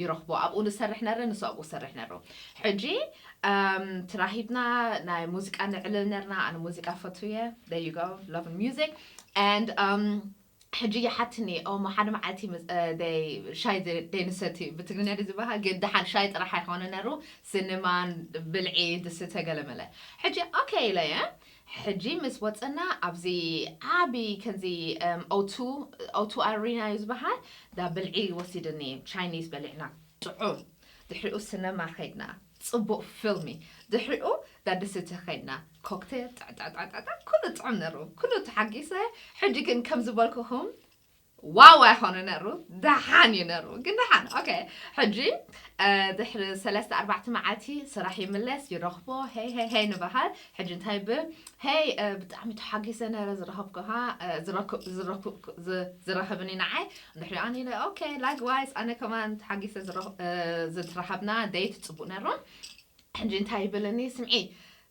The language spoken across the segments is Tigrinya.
ይረኽቦ ኣብኡ ንሰርሕ ነረ ንሱ ኣብኡ ሰርሕ ነሩ ሕጂ ትራሂብና ናይ ሙዚቃ ንዕልል ነርና ኣነ ሙዚቃ ፈቱየ there you go love music and um ሕጂ ይሓትኒ ኦሞ ሓደ መዓልቲ ሻይ ደይንሰቲ ብትግርኛ ድ ዝበሃል ግን ደሓን ሻይ ጥራሕ ኣይኮነ ነሩ ስኒማን ብልዒ ድስተ ገለመለ ሕጂ ኦኬ ኢለየ ሕጂ ምስ ወጸና ኣብዚ ዓቢ ከምዚ እም ኦቱ ኦቱ ኣሪና እዩ ዝበሃል ዳ ብልዒ ወሲድኒ ቻይኒዝ በሊዕና ጥዑም ድሕሪኡ ስነማ ከድና ጽቡቅ ፊልሚ ድሕሪኡ ዳ ድስቲ ከድና ኮክቴል ጣዕጣዕጣዕጣዕ ኩሉ ጥዑም ነሩ ኩሉ ተሓጊሰ ሕጂ ግን ከም ዝበልኩኩም ዋው ኣይኮነ ነሩ ደሓን እዩ ነሩ ግን ደሓን ኦኬ ሕጂ ድሕሪ ሰለስተ ኣርባዕተ መዓልቲ ስራሕ ይምለስ ይረኽቦ ሄይ ሄይ ሄይ ንበሃል ሕጂ እንታይ ብ ሄይ ብጣዕሚ ተሓጊሰ ነረ ዝረኸብኩሃ ዝረኸብኒ ንዓይ ድሕሪ ኣን ኢለ ኦኬ ላይክዋይስ ኣነ ከማን ተሓጊሰ ዝረኸብና ደይት ፅቡቅ ነሩ ሕጂ እንታይ ይብልኒ ስምዒ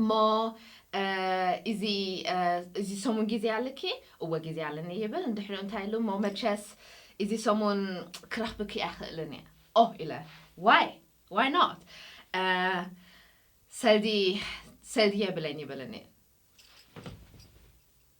እሞ እዚ እዚ ሰሙን ግዜ ኣለኪ? እወ ግዜ ኣለኒ ይብል። ድሕሪኡ እንታይ ኢሉ እሞ መቸስ እዚ ሰሙን ክረኽብኪ ኣይኽእልን እየ ኦህ ኢለ ዋይ ዋይ ኖት ሰልዲ ሰልዲ የብለይን ይብለኒ።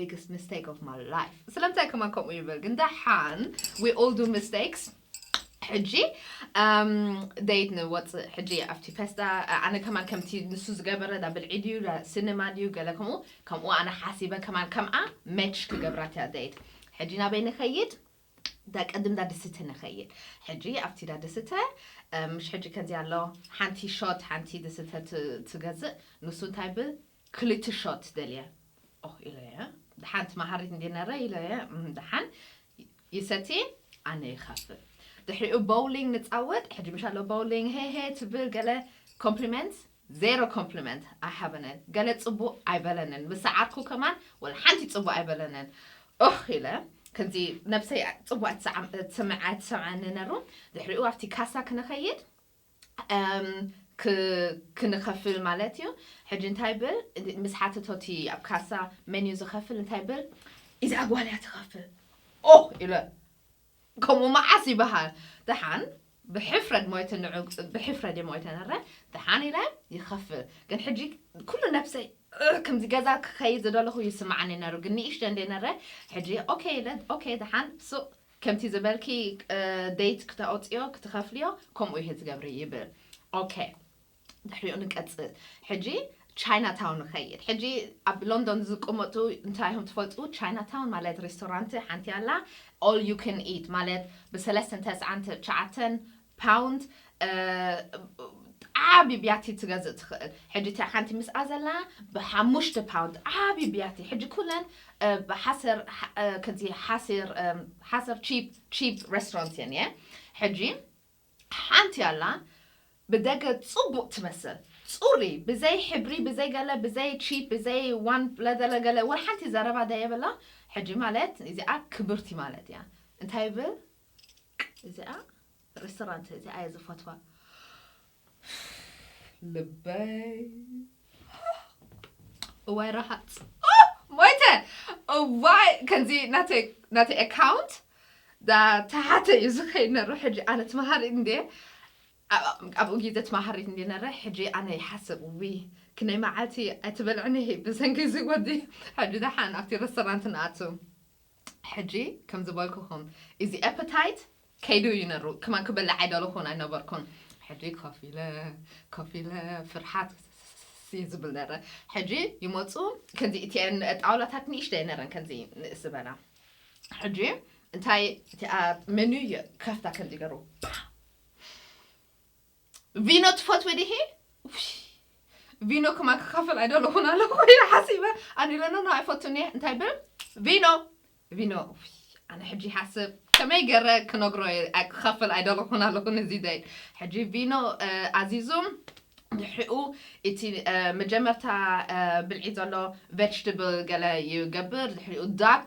biggest mistake of my life ስለምንታይ ከማን ከምኡ ይብል ግን ደሓን we all do mistakes ሕጂ ደይት ንወፅእ ሕጂ ኣብቲ ፌስታ ኣነ ከማን ከምቲ ንሱ ዝገበረ ዳ ብልዒ ድዩ ዳ ሲኒማ ድዩ ገለ ከምኡ ከምኡ ኣነ ሓሲበ ከማን ከምኣ መች ክገብራት እያ ደይት ሕጂ ናበይ ንኸይድ ዳ ቅድም ዳ ድስተ ንኸይድ ሕጂ ኣብቲ ዳ ድስተ ምሽ ሕጂ ከምዚ ኣሎ ሓንቲ ሾት ሓንቲ ድስተ ትገዝእ ንሱ እንታይ ብ ክልተ ሾት ደልየ ኦህ ኢሎ'የ ደሓንቲ መሃሪት እንድየ ነረ ኢሎ'የ እም ደሓን ይሰቲ ኣነ ይኸፍል ድሕሪኡ ቦውሊንግ ንጻወት ሕጂ ምሽ ኣሎ ቦውሊንግ ሄሄ ትብል ገለ ኮምፕሊመንት ዜሮ ኮምፕሊመንት ኣይሃበንን ገለ ጽቡቅ ኣይበለንን ምስ ሰዓርኩ ከማን ወላ ሓንቲ ጽቡቅ ኣይበለንን ኦህ ኢለ ከምዚ ነብሰይ ጽቡቅ ኣይትሰምዐኒ ነሩ ድሕሪኡ ኣብቲ ካሳ ክንኸይድ ክንከፍል ማለት እዩ ሕጂ እንታይ ብል ምስ ሓተቶ እቲ ኣብ ካሳ መን እዩ ዝከፍል እንታይ ብል ኢዛ ጓል እያ ትከፍል ኦህ ኢለ ከምኡ መዓስ ይበሃል ደሓን ብሕፍረት ሞይተ ንዑ ብሕፍረት እየ ሞይተ ነረ ደሓን ኢለ ይከፍል ግን ሕጂ ኩሉ ነብሰይ ከምዚ ገዛ ክከይድ ዝደለኩ ይስምዓኒ ነሩ ግን ንእሽተ እንዴ ነረ ሕጂ ኦኬ ኢለ ኦኬ ደሓን ሱቅ ከምቲ ዝበልኪ ዴት ክተውጽዮ ክትከፍልዮ ከምኡ ኢኪ ትገብሪ ይብል ኦከ ድሕሪኡ ንቀጽል ሕጂ ቻይና ታውን ንከይድ ሕጂ ኣብ ሎንዶን ዝቅመጡ እንታይ ኢኩም ትፈልጡ ቻይና ታውን ማለት ሬስቶራንት ሓንቲ ኣላ ኦል ዩ ካን ኢት ማለት ብሰለስተን ተስዓን ትሽዓተን ፓውንድ ዓቢ ብያቲ ትገዝእ ትኽእል ሕጂ እታ ሓንቲ ምስኣ ዘላ ብሓሙሽተ ፓውንድ ዓቢ ብያቲ ሕጂ ኩለን ብሓሰር ከምዚ ሓሲር ሓሰር ቺፕ ቺፕ ሬስቶራንት እየን እየ ሕጂ ሓንቲ ኣላ ብደገ ጽቡቅ ትመስል ጽሪ ብዘይ ሕብሪ ብዘይ ገለ ብዘይ ቺፕ ብዘይ ዋን ለዘለ ገለ ወላ ሓንቲ ዘረባ ደየብላ ሕጂ ማለት እዚኣ ክብርቲ ማለት እያ እንታይ ይብል እዚኣ ሬስቶራንት እዚኣ እየ ዝፈትዋ ልበይ እዋይ ረሃፅ ሞይተ እዋይ ከምዚ ናተይ ናተይ ኣካውንት ተሓተ እዩ ዝኸይድ ነረ ሕጂ ኣነ ትመሃሪት እንደ ኣብኡ ግዜ ትመሃሪት እንደ ነረ ሕጂ ኣነ ይሓስብ ዊ ክንደይ መዓልቲ ኣይትበልዕኒ ብሰንኪ እዚ ወዲ ሕጂ ደሓን ኣብቲ ረስቶራንት ንኣቱ ሕጂ ከም ዝበልኩኹም እዚ ኤፐታይት ከይዱ እዩ ነሩ ከማን ክበልዕ ኣይደለኹን ኣይነበርኩን ሕጂ ኮፍ ኢለ ኮፍ ኢለ ፍርሓት እዩ ዝብል ነረ ሕጂ ይመጹ ከምዚ እቲኤን ጣውላታት ንእሽተይ ነረን ከምዚ ንእስ ዝበላ ሕጂ እንታይ እቲኣ መኑ ይከፍታ ከምዚ ገሩ ፓ ቪኖ ትፈትዊ ዲኺ ቪኖ ክማ ክካፈል ኣይደለኹን ኣለኹ ኢለ ሓሲበ ኣነ ኢለ ኖኖ ኣይፈቱን እየ እንታይ ብል ቪኖ ቪኖ ኣነ ሕጂ ይሓስብ ከመይ ገረ ክነግሮ ክካፈል ኣይደለኹን ኣለኹ ነዚ ደይ ሕጂ ቪኖ ኣዚዙም ድሕሪኡ እቲ መጀመርታ ብልዒ ዘሎ ቨጅትብል ገለ ይገብር ድሕሪኡ ዳክ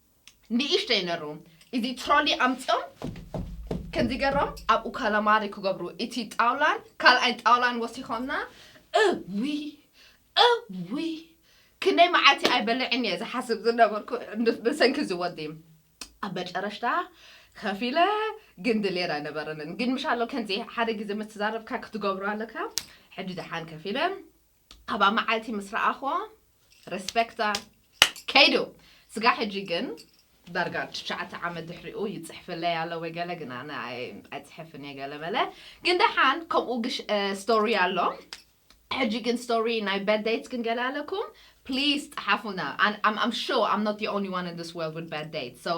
ንእሽተይ ነሩ እዚ ትሮሊ ኣምጺኦም ከምዚ ገሮም ኣብኡ ካላማሪ ክገብሩ እቲ ጣውላን ካልኣይ ጣውላን ወሲኾምና እውይ እውይ ክንደይ መዓልቲ ኣይበልዕን እየ ዝሓስብ ዝነበርኩ ብሰንኪ እዚ ወዲ ኣብ መጨረሽታ ከፊለ ግን ድሌር ኣይነበረንን ግን ምሻሎ ከምዚ ሓደ ግዜ ምስ ትዛረብካ ክትገብሮ ኣለካ ሕጂ ደሓን ከፊለ ኣብኣ መዓልቲ ምስ ረኣኽዎ ረስፐክታ ከይዱ ስጋዕ ሕጂ ግን ዳርጋ ትሽዓተ ዓመት ድሕሪኡ ይጽሕፍለይ ኣሎ ወይ ገለ ግን ኣነ ኣይጽሕፍን እየ ገለ መለ ግን ደሓን ከምኡ ስቶሪ ኣሎ ሕጂ ግን ስቶሪ ናይ በድ ደይትስ ግን ገለ ኣለኩም ፕሊስ ጸሓፉና ኣም ኣም ሹር ኣም ኖት ዲ ኦንሊ ዋን ኢን ዲስ ወርልድ ዊዝ በድ ደይትስ ሶ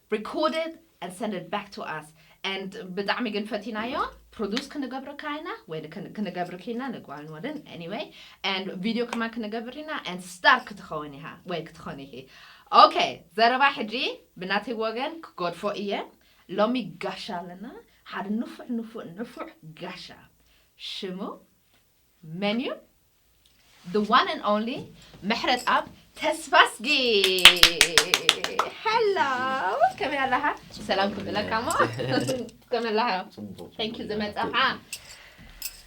Record it and send it back to us and ብጣዕሚ ግን ፈቲናዮ ፕሮዱስ ክንገብርካ ኢና ወይ ክንገብርኪ ኢና ንጓል ንወድን anyway and ቪድዮ ከማን ክንገብር ኢና and ስታር ክትኸውን ኢኻ ወይ ክትኾኒ ኢኺ ኦኬ ዘረባ ሕጂ ብናተይ ወገን ክገድፎ እየ ሎሚ ጋሻ ኣለና ሓደ ንፉዕ ንፉዕ ንፉዕ ጋሻ ሽሙ መን እዩ the one and only ምሕረትኣብ ተስፋስጊ ሄሎ ከመይ ኣለኻ ሰላም ክብለካ እሞ ከመይ ኣለኻ ፅቡቅ ታንኪ ዝመፀኻ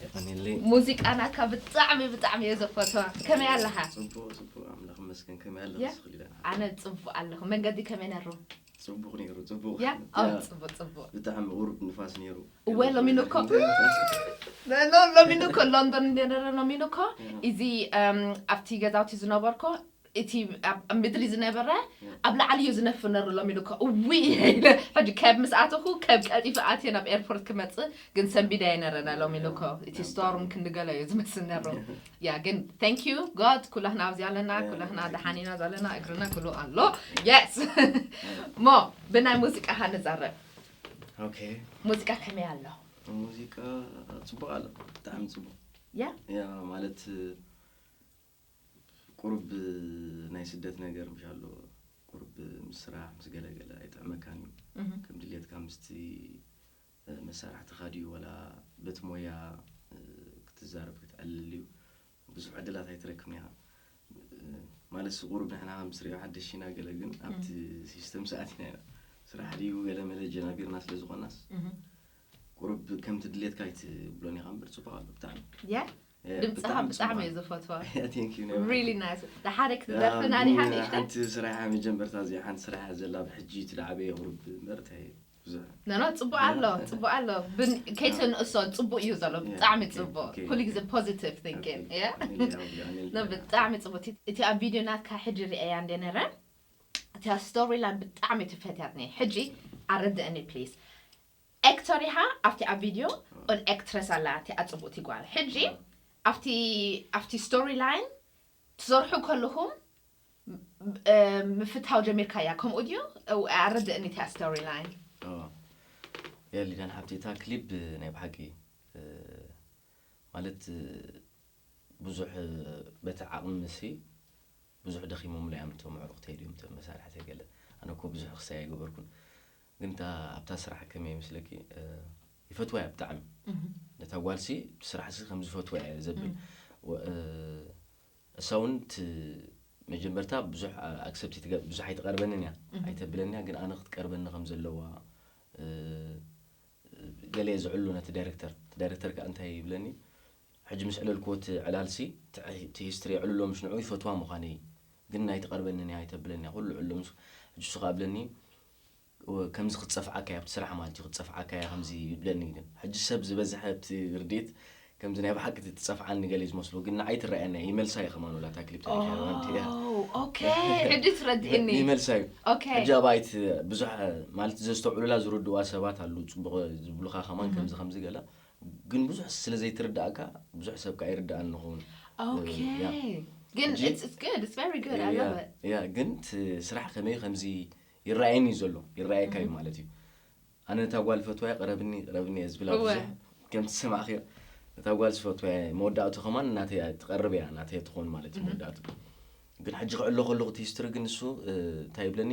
የቀኒለይ ሙዚቃና እካ ብጣዕሚ ብጣዕሚ እየ ዘፈትዋ ከመይ ኣለኻ ፅቡቅ ፅቡቅ ኣምላኽ መስገን ከመይ ኣለኽ ያ። ስኽሊላ ኣነ ፅቡቅ ኣለኹ መንገዲ ከመይ ነሩ ጽቡቅ ነይሩ ጽቡቅ ያ ያ፣ ኦ ጽቡቅ ጽቡቅ ብጣዕሚ ቁሩብ ንፋስ ነይሩ እወ ሎሚን እኮ ኖ ሎሚን እኮ ሎንዶን እንደረ ሎሚን እኮ እዚ እም፣ ኣብቲ ገዛውቲ ዝነበርኮ እቲ ኣብ ኣብ ምድሪ ዝነበረ ኣብ ላዕሊ እዩ ዝነፍር ነሩ ሎሚን እኮ እውይ ኢለ ሕጂ ከብ ምስ ኣተኹ ከብ ቀልጢፈ ኣትየ ናብ ኤርፖርት ክመጽእ ግን ሰንቢደየ ነረና ሎሚን እኮ እቲ ስቶርም ክንገሎ እዩ ዝመስል ነሩ ያ ግን thank you God ኩላህና ኣብዚ ኣለና ኩላህና ደሓን ኢና ዘለና እግርና ኩሉ ኣሎ yes ሞ ብናይ ሙዚቃ ሃ ንዛረብ ኦኬ ሙዚቃ ከመይ ኣሎ ሙዚቃ ጽቡቅ ኣሎ ብጣዕሚ ጽቡቅ ያ ያ ማለት ቁሩብ ናይ ስደት ነገር ምሽ ኣሎ ቁሩብ ምስ ስራሕ ምስ ገለገለ ኣይጥዕመካን እዩ እህ ከም ድሌትካ ምስቲ መሳርሕትኻ ድዩ ወላ በቲ ሞያ ክትዛረብ ክትዕልል ድዩ ብዙሕ ዕድላት ኣይትረክብን ኢኻ ማለትስ ቁሩብ ንሕና ከም ትሪኦ ሓደሽ ኢና ገለ ግን ኣብቲ ሲስተም ሰዓት ኢና ኢና ስራሕ ድዩ ገለ መለ ጀናቢርና ስለ ዝኾናስ ቁሩብ ከምቲ ድሌትካ ኣይትብሎን ኢኻ እምበር ፅቡቅ ኣሎ ብጣዕሚ ያ ድምፅኻ ብጣዕሚ እየ ዝፈትዋ ንሓደ ክትደርፍና ዲኻ ንእሽተይ ስራሕ መጀመርታ እዚ ሓንቲ ስራሕ እያ ዘላ ብሕጂ እቲ ዳዕበ የቕርብ መርታ እየ ኖኖ ፅቡቅ ኣሎ ፅቡቅ ኣሎ ከይትንእሶ ፅቡቅ እዩ ዘሎ ብጣዕሚ ፅቡቅ ኩሉ ግዜ ፖዚቲቭ ቲንኪን ብጣዕሚ ፅቡቅ እቲ ኣብ ቪድዮ ናትካ ሕጂ ሪአያ እንደ ነረ እታ ስቶሪ ላን ብጣዕሚ ትፈትያት ነይ ሕጂ ኣረድእኒ ፕሊስ ኤክተር ኢኻ ኣብቲ ኣብ ቪድዮ ን ኤክትረስ ኣላ እቲኣ ጽብቅቲ ጓል ሕጂ ኣብቲ ኣብቲ ስቶሪ ላይን ትሰርሑ ከለኹም ምፍታው ጀሚርካያ ከምኡ ድዩ ኣረድእኒ እቲኣ ስቶሪ ላይን። ያ ሊድያን ሓብቲ እታ ክሊብ ናይ ብሓቂ ማለት ብዙሕ በቲ ዓቕምሲ ብዙሕ ደኺሞምላ እዮም እቶም ኣዕሩኽተይ ድዮም እቶም መሳርሕተይ ገለ ኣነ እኮ ብዙሕ ክሳይ ኣይገበርኩን ግን እታ ኣብታ ስራሕ ከመይ ይመስለኪ ይፈትዋ እያ ብጣዕሚ ነታ ጓልሲ ስራሕሲ ከም ዝፈትዋ እየ ዘብል እሳ እውን መጀመርታ ብዙሕ ኣክሰፕት ብዙሕ ኣይትቀርበንን እያ ኣይተብለኒ እያ ግን ኣነ ክትቀርበኒ ከም ዘለዋ ገለ ዝዕሉ ነቲ ዳይረክተር እቲ ዳይረክተር ከዓ እንታይ ይብለኒ ሕጂ ምስ ዕለልክዎ እቲ ዕላልሲ እቲ ሂስትሪ የዕልሎ ምስ ንዑ ይፈትዋ ምዃነይ ግን ኣይትቐርበኒ እያ ኣይተብለኒ እያ ኩሉ ዕሎ ምስ ሕጂ እሱ ከዓ ብለኒ ከምዚ ክትጸፍዓካ እያ ኣብቲ ስራሕ ማለት እዩ ክትጸፍዓካ እያ ከምዚ ይብለኒ ግን ሕጂ ሰብ ዝበዝሐ ኣብቲ ርድት ከምዚ ናይ ብሓቂ እቲ ትጸፍዓኒ ገለ ዝመስሎ ግን ንዓይ ትረኣየና እያ ይመልሳ እየ ከማን ወላ እታ ክሊፕ ታሪክ እያ ማንቲ እያ ኦ ኦኬ ሕጂ ትረድእኒ ይመልሳ እዩ ኦኬ ሕጂ ኣብ ኣይት ብዙሕ ማለት ዘስተውዕሉላ ዝርድዋ ሰባት ኣሉ ጽቡቕ ዝብሉኻ ከማን ከምዚ ከምዚ ገለ ግን ብዙሕ ስለ ዘይትርዳእካ ብዙሕ ሰብ ከኣ ይርዳእን ንኸውን ግን ስራሕ ከመይ ከምዚ ይረኣየኒ እዩ ዘሎ ይረኣየካ እዩ ማለት እዩ ኣነ ነታ ጓል ፈትዋያ ቅረብኒ ቅረብኒ እየ ዝብላ ብዙሕ ከምቲ ዝሰማዕክዮ ነታ ጓል ዝፈትዋያ መወዳእቱ ከማን እናተይ ትቐርብ እያ እናተይ ትኾን ማለት እዩ መወዳእቱ ግን ሕጂ ክዕሎ ከለኹ እቲ ሂስትሪ ግን ንሱ እንታይ ይብለኒ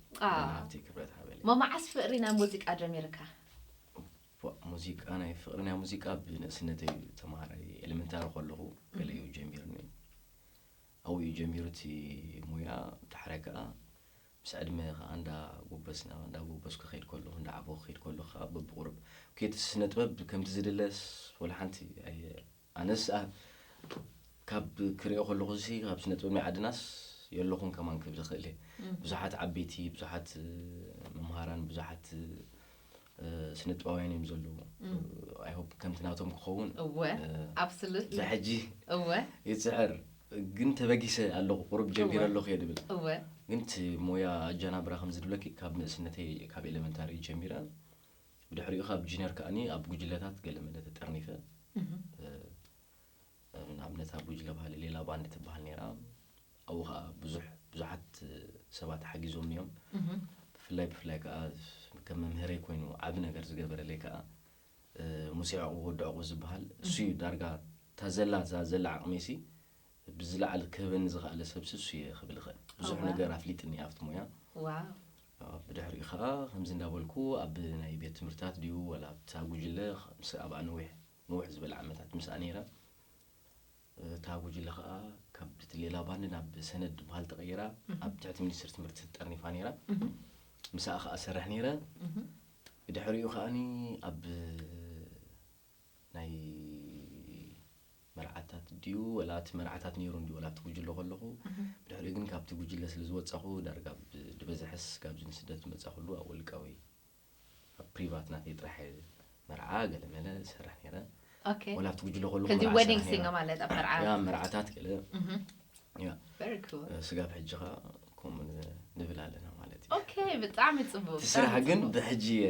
ኣሜን ሓብተይ ክብረት ሃበለይ። እሞ መዓስ ፍቅሪ ናይ ሙዚቃ ጀሚርካ? እዋእ ሙዚቃ ናይ ፍቅሪ ናይ ሙዚቃ ብንእስነተይ እዩ ተምሃራይ ኤለመንታሪ ከለኹ ገለ እዩ ጀሚርኒ ኣብኡ እዩ ጀሚሩ እቲ ሙያ ዳሕራይ ከዓ ምስ ዕድመ ከዓ እንዳ ጎበስና እንዳ ጎበስኩ ከይድ ከለኹ እንዳ ዓበኹ ከይድ ከለኹ ከዓ በብቁርብ ኬትስ ስነ ጥበብ ከምቲ ዝድለስ ወላ ሓንቲ ኣየ ኣነስ ኣብ ካብ ክሪኦ ከለኹሲ ካብ ስነጥበብኛ ዓድናስ የለኹን ከማን ክብል ይኽእል እየ ብዙሓት ዓበይቲ ብዙሓት መምሃራን ብዙሓት ስነጥበባውያን እዮም ዘለዉ ኣይሆፕ ከምቲ ናቶም ክኸውን እወ ኣብስሉት ብሕጂ እወ ይፅዕር ግን ተበጊሰ ኣለኹ ቁሩብ ጀሚረ ኣለኹ እየ ድብል እወ ግን እቲ ሞያ ኣጀናብራ ከምዚ ድብለኪ ካብ ንእስነተይ ካብ ኤሌመንታሪ ጀሚረ ብድሕሪኡ ካብ ጁኒየር ከኣኒ ኣብ ጉጅለታት ገለ መለ ተጠርኒፈ ንኣብነት ኣብ ጉጅለ ባህሊ ሌላ ባንድ ትበሃል ነይራ ኣብኡ ከዓ ብዙሕ ብዙሓት ሰባት ሓጊዞም እዮም ብፍላይ ብፍላይ ከዓ ከም መምህረይ ኮይኑ ዓብ ነገር ዝገበረለይ ከዓ ሙሴ ዕቑ ወዲ ዕቑ ዝበሃል እሱ እዩ ዳርጋ ታዘላ ዘላ ዓቕሚሲ ብዝለዓል ክህበኒ ዝኸኣለ ሰብሲ እሱ እየ ክብል ይኽእል። ብዙሕ ነገር ኣፍሊጥኒ ኣብቲ ሞያ። ብድሕሪኡ ከዓ ከምዚ እንዳበልኩ ኣብ ናይ ቤት ትምህርታት ድዩ ዋላ ኣብታ ጉጅለ ምስ ኣብኣ ነዊሕ ንውሕ ዝበለ ዓመታት ምስኣ ነይረ። እታ ጉጅለ ከዓ ካብ እቲ ሌላ ባንድ ናብ ሰነድ ዝበሃል ተቐይራ ኣብ ትሕቲ ሚኒስትሪ ትምህርቲ ተጠርኒፋ ነይራ። ምስኣ ከዓ እሰርሕ ነይረ። ብድሕሪኡ ከዓኒ ኣብ ናይ መርዓታት ድዩ ወላ እቲ መርዓታት ነይሩ እንድዩ ወላ ኣብቲ ጉጅለ ከለኹ ብድሕሪኡ ግን ካብቲ ጉጅለ ስለ ዝወጻኹ ዳርጋ ብ- ዝበዝሐስ ካብዚ ንስደት ዝመጻኹሉ ኣብ ውልቃዊ ኣብ ፕሪቫት ናተይ ጥራሕ እየ መርዓ ገለመለ ዝሰርሕ ነይረ ኦኬ ወላ ኣብቲ ጉጅለ ከለኹ ከዚ መርዓ ዌዲንግ ይሰርሕ ሲንገ ነይረ ማለት ኣብ መርዓ ያ መርዓታት ገለ እህ ያ ቨሪ ኩል እ፣ ስጋብ ሕጂ ከኣ ከምኡ ን- ንብል ኣለና ማለት እዩ ኦኬ ብጣዕሚ ጽቡቅ እቲ ብጣዕሚ ስራሕ ግን ጽቡቅ። ብሕጂ እየ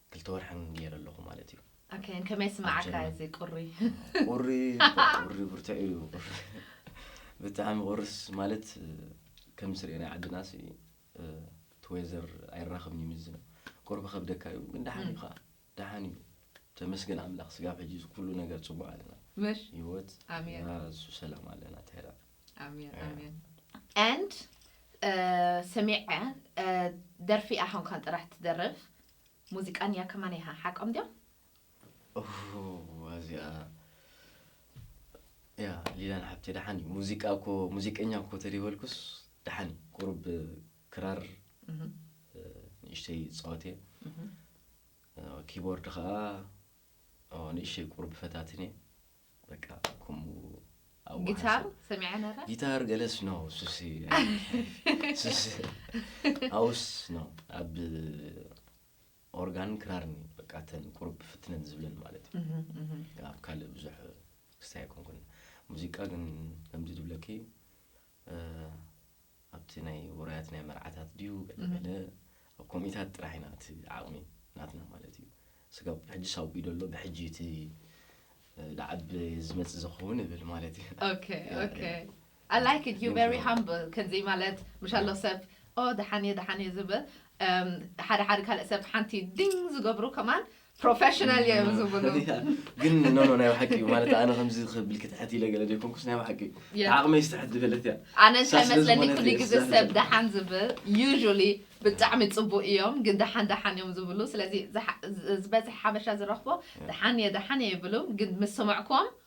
ክልተ ወርሕን ጌረ ኣለኹ ማለት እዩ። ኦኬ ን ከመይ ይስምዓካ እዚ ቁሪ? ቁሪ ቁሪ ብርቱዕ እዩ ብጣዕሚ ቁርስ ማለት ከም ስርኤ ናይ ዓድናሲ እቲ ወይዘር ኣይራኸብን እዩ ምስዚ ነው ቁሪ ክከብደካ እዩ ግን ደሓን እዩ ከዓ ደሓን እዩ ተመስገን ኣምላኽ ስጋብ ሕጂ ኩሉ ነገር ፅቡቅ ኣለና ምሽ ህይወት ኣሜን። እሱ ሰላም ኣለና ተራ ኣሜን Yeah. ኣሜን and uh, ሰሚዐ uh, ደርፊ ኣኾንካን ጥራሕ ትደርፍ ሙዚቃን እያ ከማን ኢኻ ሓቆም ድዮም ኡፍ፣ እዚኣ ያ ሊላን ሓብቴ ደሓን እዩ ሙዚቃ እኮ ሙዚቀኛ እኮ ተደይበልኩስ ደሓን እዩ ቁሩብ ክራር እ፣ ንእሽተይ ፃወት እየ እ፣ ኪቦርድ ከዓ ኦ፣ ንእሽተይ ቁሩብ ፈታትን እየ በቃ ከምኡ ኣዋህዶ። ጊታር ሰሚዐ ነረ ጊታር ገለስ ነው ሱስ ሱስ ኣውስ ነው ኣብ ኦርጋን ክራርን እዩ በቃ እተን ቁሩብ ፍትነን ዝብለን ማለት እዩ ኣብ ካልእ ብዙሕ ክስታይ ኣይኮንኩን ሙዚቃ ግን ከምዚ ዝብለኪ ኣብቲ ናይ ውራያት ናይ መርዓታት ድዩ ገለ ገለ ኣብ ኮሚታት ጥራሕ ኢና እቲ ዓቕሚ ናትና ማለት እዩ ስጋብ ሕጂ ሳውቢ ደሎ ብሕጂ እቲ ዳዓብ ዝመጽእ ዝኸውን እብል ማለት እዩ ኦኬ ኦኬ I like it. You're very humble. ከምዚ ማለት ምሻሎ ሰብ ኦ ደሓን እየ ደሓን እየ ዝብል ሓደ ሓደ ካልእ ሰብ ሓንቲ ድኝ ዝገብሩ ከማን ፕሮፌሽናል እየ ዝብሉ ፈሊጣ ግን ኖ ኖ ናይ ባሓቂ እዩ ማለት ኣነ ከምዚ ክብል ክትሕት ኢለ ገለ ዘይኮንኩስ ናይ ባሓቂ እዩ Yeah. ዓቕመይ ዝተሕት ዝበለት እያ ኣነ እንታይ ሳስ መስለኒ ስለዝኾነት ኩሉ እየ ግዜ ስዛሕ ሰብ ዝብል። ደሓን ዝብል ዩዥሊ ብጣዕሚ ፅቡቅ እዮም ግን ደሓን ደሓን እዮም ዝብሉ ስለዚ ዝሓ- ዝ- ዝበዝሕ ሓበሻ ዝረኽቦ ደሓን እየ ደሓን እየ ይብሉ ግን ምስ ሰማዕኩም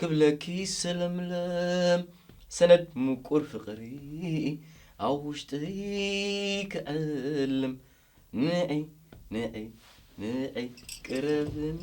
ክብለኪ ሰለምለም ሰነድ ሙቁር ፍቅሪ ኣብ ውሽጥይ ክዕልም ንዒ ንዒ ንዒ ቅረብኒ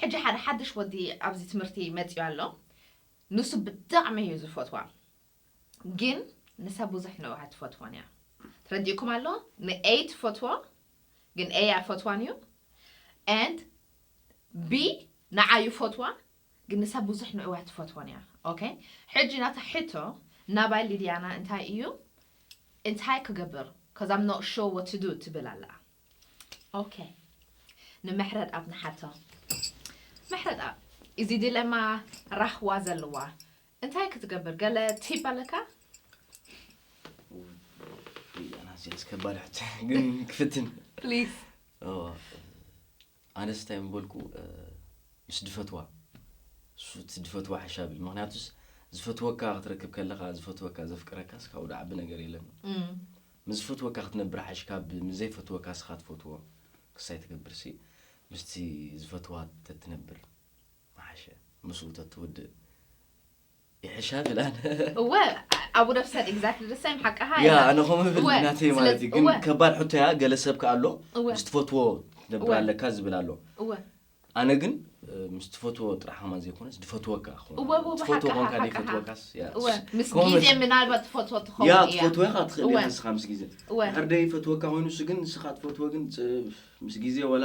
ሕጂ ሓደ ሓድሽ ወዲ ኣብዚ ትምህርቲ መጽዩ ኣሎ ንሱ ብጣዕሚ እዩ ዝፈትዋ ግን ንሳ ቡዙሕ ነው ኣይትፈትዎን እያ ተረዲኡኩም ኣሎ ን A ትፈትዎ ግን A ኣይፈትዋን እዩ and B ንዓ ይፈትዋ ግን ንሳ ቡዙሕ ንዑ ኣይትፈትዎን እያ ኦከ ሕጂ ናታ ሕቶ ናባይ ሊድያና እንታይ እዩ እንታይ ክገብር cuz I'm not sure what to do ትብል ኣላ ኦኬ ንምሕረትኣብ ንሓቶ ምሕረትኣብ እዚ ዲለማ ራህዋ ዘለዋ እንታይ ክትገብር ገለ ቲፕ ኣለካ? ኣናስ ጀለስ ከባድ ሕቶ ግን ክፍትን ፕሊስ ኣነስ እንታይ ምበልኩ ምስ ድፈትዋ እሱ እቲ ድፈትዋ ሓሻብል ምክንያቱስ ዝፈትወካ ክትረክብ ከለካ ዝፈትወካ ዘፍቅረካስ ካብኡ ድዓቢ ነገር የለን ምስ ዝፈትወካ ክትነብር ሓሽ ካብ ምዘይፈትወካ ስካ ትፈትዎ ክሳይ ትገብርሲ ምስቲ ዝፈትዋ ተትነብር መሓሸ ምስኡ ተትውድእ ይሕሻ ትላል እወ ኣብ ውደብ ሰድ ኤግዛክትሊ ዘ ሰም ሓቃኻ ያ ኣነ ከምኡ ይብል እወ፣ ናተይ ስለ- ማለት እዩ ግን እወ። ከባድ ሕቶ እያ ገለ ሰብ ከ ኣሎ እወ። ምስ ትፈትዎ ትነብር እወ። ኣለካ ዝብል ኣሎ እወ ኣነ ግን እ፣ ምስ ትፈትዎ ጥራሕ ከማን ዘይኮነስ ድፈትወካ ክኾን እወ፣ እወ፣ ትፈትዎ ሓቃኻ፣ ኮንካ ሓቃኻ። ዘይፈትወካስ ያ፣ እወ እሱ- ምስ ከምኡ ግዜ መስ- ምናልባት ትፈትዎ ትኸውን ያ እያ ትፈትወ ኢኻ ትኽእል እወ። ኢኻ ንስኻ ምስ ግዜ እወ። ድሕር ደይ ፈትወካ ኮይኑ እሱ ግን ንስኻ ትፈትዎ ግን ፅ- ምስ ግዜ ወላ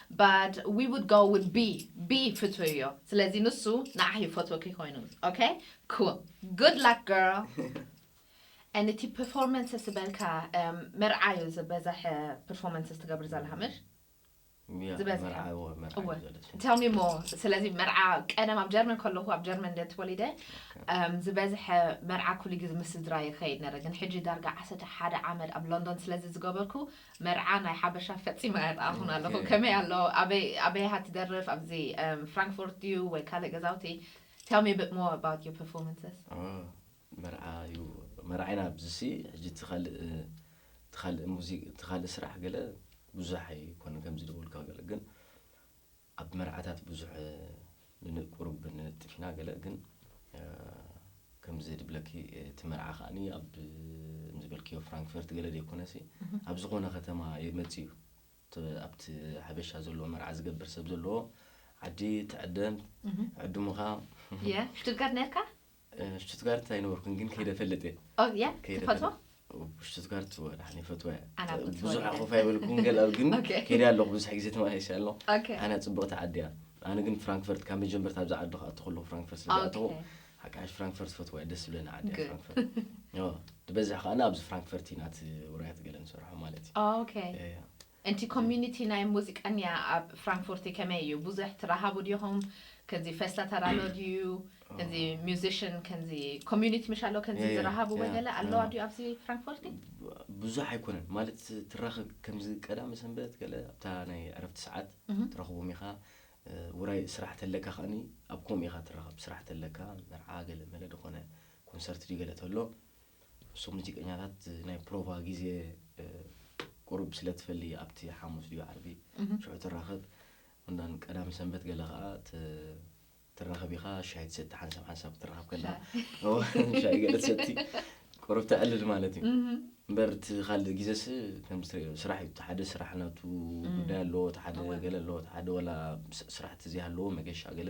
but we would go with B B ፍትው እዮ ስለዚ ንሱ ንዓኺ ይፈትወኪ ኮይኑ ok cool good luck girl and እቲ performances ዝበልካ እም፣ መርዓ እዩ ዝበዘሐ performances ትገብር ዘለኻ ምሽ ያ፣ ዝበዝሐ። መርዓ እዎ፣ መርዓ እወ እዩ ዘለኒ። tell me more ስለዚ መርዓ ቀደም ኣብ ጀርመን ከለኹ ኣብ ጀርመን እንደ ተወሊደ እም፣ ዝበዝሐ መርዓ ኩሉ ግዜ ምስ ስድራ ይኸይድ ነረ ግን ሕጂ ዳርጋ ዓሰርተ ሓደ ዓመት ኣብ ሎንዶን ስለዚ ዝገበርኩ መርዓ ናይ ሓበሻ ፈጺመ ኣይረኣኹን ኣለኹ። ከመይ ኣሎ? ኣበይ ኣበይ ኢኻ ትደርፍ? ኣብዚ ፍራንክፎርት ድዩ ወይ ካልእ ገዛውቲ? Tell me a bit more about your performances። መርዓ እዩ መርዓይና ኣብዚሲ ሕጂ እቲ ካልእ እቲ ካልእ ሙዚቃ እቲ ካልእ ስራሕ ገለ ብዙሕ ኣይኮነን ከምዚ ዝበልኩ ገለ ግን ኣብ መርዓታት ብዙሕ ንንቁሩብ ንነጥፍ ኢና ገለ ግን ከምዚ ድብለኪ እቲ መርዓ ከኣኒ ኣብ ዝበልክዮ ፍራንክፈርት ገለ ደይኮነሲ ኣብ ዝኾነ ከተማ ይመጽእ እዩ ኣብቲ ሓበሻ ዘለዎ መርዓ ዝገብር ሰብ ዘለዎ ዓዲ ትዕደም ዕድሙኻ ትብቀት ነርካ ሽቱትጋርት ኣይነበርኩን ግን ከይደ ፈልጥ እየ ኦ ያ ከይደ ትፈትዎ ፈልጥ ሽቱትጋርት ወላሓን ይፈትዋ እየ ኣነ ኣብ ክትፈልጥ ብዙሕ እየ። ኣኾፍ ኣይበልኩም ገላ ግን ኦኬ። ከይደ ኣለኹ ብዙሕ ግዜ ተመላሊሰ ኣለኹ ኦኬ። ኣነ ፅብቕቲ ዓዲ እያ ኣነ ግን ፍራንክፈርት ካብ መጀመርታ ኣብዚ ዓዲ ክኣቱ ከለኹ ፍራንክፈርት ስለ ዝኣተኹ ኦኬ። ሓቃሽ ፍራንክፈርት ይፈትዋ እየ ደስ ዝብለኒ ዓዲ እያ Good. ፍራንክፈርት ኦ፣ ዝበዝሕ ከኣ ኣብዚ ፍራንክፈርት ኢና እቲ ውራያት ገለ ንሰርሖ ማለት እዩ ኦኬ ያ፣ ያ። እንቲ ኮሚኒቲ ናይ ሙዚቀንያ ኣብ ፍራንክፉርቲ ከመይ እዩ ቡዙሕ ትራሃቡ ዲኹም ከዚ ፈስታ ተራሎ ድዩ ከዚ ሙዚሽን ከዚ ኮሚኒቲ ምሽ ኣሎ ከዚ ያ ያ ዝራሃቡ ያ ወገለ ኣለዋ ያ ድዩ ኣብዚ ፍራንክፉርቲ። ብ ብዙሕ ኣይኮነን ማለት ትራኸብ ከምዚ ቀዳመ ሰንበት ገለ ኣብታ ናይ ዕረፍቲ ሰዓት እህ ትረኽቦም ኢኻ እ ውራይ ስራሕ ተለካ ከኣኒ ኣብ ከምኡ ኢኻ ትራኸብ ስራሕ ተለካ መርዓ ገለ መለ ድኾነ ኮንሰርት ድዩ ገለ ተሎ እሶም ሙዚቀኛታት ናይ ፕሮቫ ግዜ ቁሩብ ስለ ትፈሊ ኣብቲ ሓሙስ ድዩ ዓርቢ ሽዑ ትራኸብ እንዳን ቀዳም ሰንበት ገለ ከዓ ትራኸብ ኢኻ ሻሂ ትሰቲ ሓንሳብ ሓንሳብ ትራኸብ ከላ ሻሂ ገለ ትሰቲ ቁሩብ ተዕልል ማለት እዩ እምበር እቲ ካልእ ግዜስ ከምዚ ትሪኦ ስራሕ እዩ እቲ ሓደ ስራሕ ናቱ ጉዳይ ኣለዎ እቲ ሓደ ገለ ኣለዎ እቲ ሓደ ዋላ ስራሕቲ ዘይሃለዎ መገሻ ገለ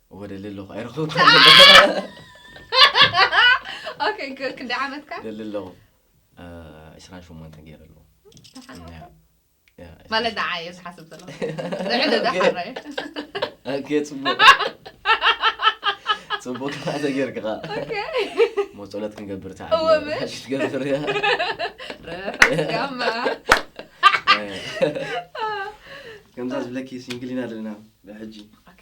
ወደ ለለኹ ኣይረኸብኩ ኦኬ ግ- ክንደይ ዓመትካ ለለኹ ዕስራን ሸሞንተን ገይረ ኣለዎ ማለት ንዓ እየ ዝሓስብ ዘለኹ ልዕሊ ዶ ሓራየ ኦኬ ፅቡቅ ፅቡቅ ከዓ ተጌርክኻ መፀሎት ክንገብር ተዓ እወ በል። ሓሽ ትገብር እያ ረፈጋማ ከምዛ ዝብለኪ ሲንግሊና ኣለና ብሕጂ ኦኬ